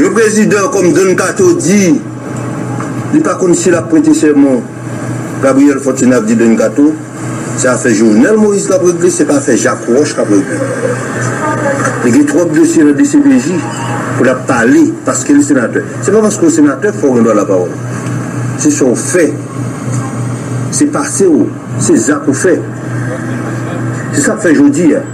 Yon prezidan kòm Don Kato di li pa konn si l ap prete sèman, Gabriel Fortuné ap di Don Kato, se afè Jovenel Moïse l ap regle, se pa afè Jacques Roche k ap regle. Li gen twòp dosye nan dcpj pou l ap pale paske li senatè. Se pa paske w senatè fò w gen dwa lapawòl. Se sa w fè, se pase w, se zak ou fè. Se sa k fè jodi a.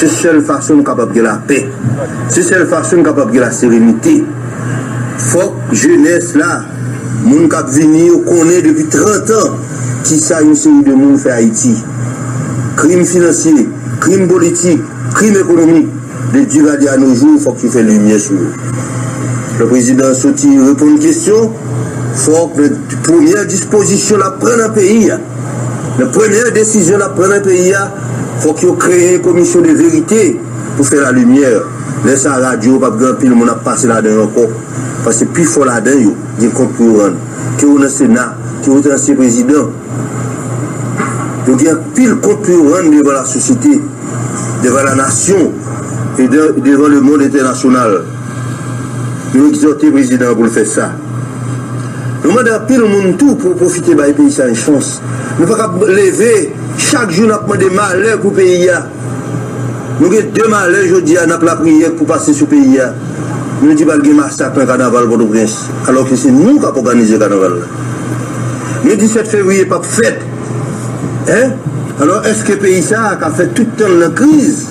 Se sèl fason nou kapab gen lapè. Se sèl fason nou kapab gen laserenite. Fòk jenès la, moun k ap vini yo konnen depi trantan ki sa yon seri de moun fè Ayiti. Krim finansye, krim politik, krim ekonomik, de Duvalier a no jou, fòk yo fè limyè sou yo. Lè prezidan soti reponn kesyon, fòk nan premyè dispozisyon l ap pran nan peyi a, Nan premye desizyon nap pran nan peyi a fok yo kreye komisyon de verite pou fè la limyè, lè sa radyo yo pap gen anpil moun ap pase ladan yo ankò paske pi fò ladan yo gen kont pou yo rann, ke ou nan sena, ke ou te ansyen prezidan yo gen anpil kont pou yo rann devan la sosyete, devan la nasyon e devan le mond entènasyonal. Yo egzòte prezidan an pou l fè sa. Nou mande anpil moun tou pou pwofite bay peyi sa yon chans. Nou pa kab leve chak jou n ap mande malè pou peyi a. Nou gen de malè jodi a n ap lapriyè pou pase sou peyi a. Nou di pral gen masak nan kanaval Pòtoprens alò ke se nou k ap òganize kanaval la. Nou di 7 fevriye p ap fèt. Alò èske peyi sa a ka fèt tout tan l nan kriz?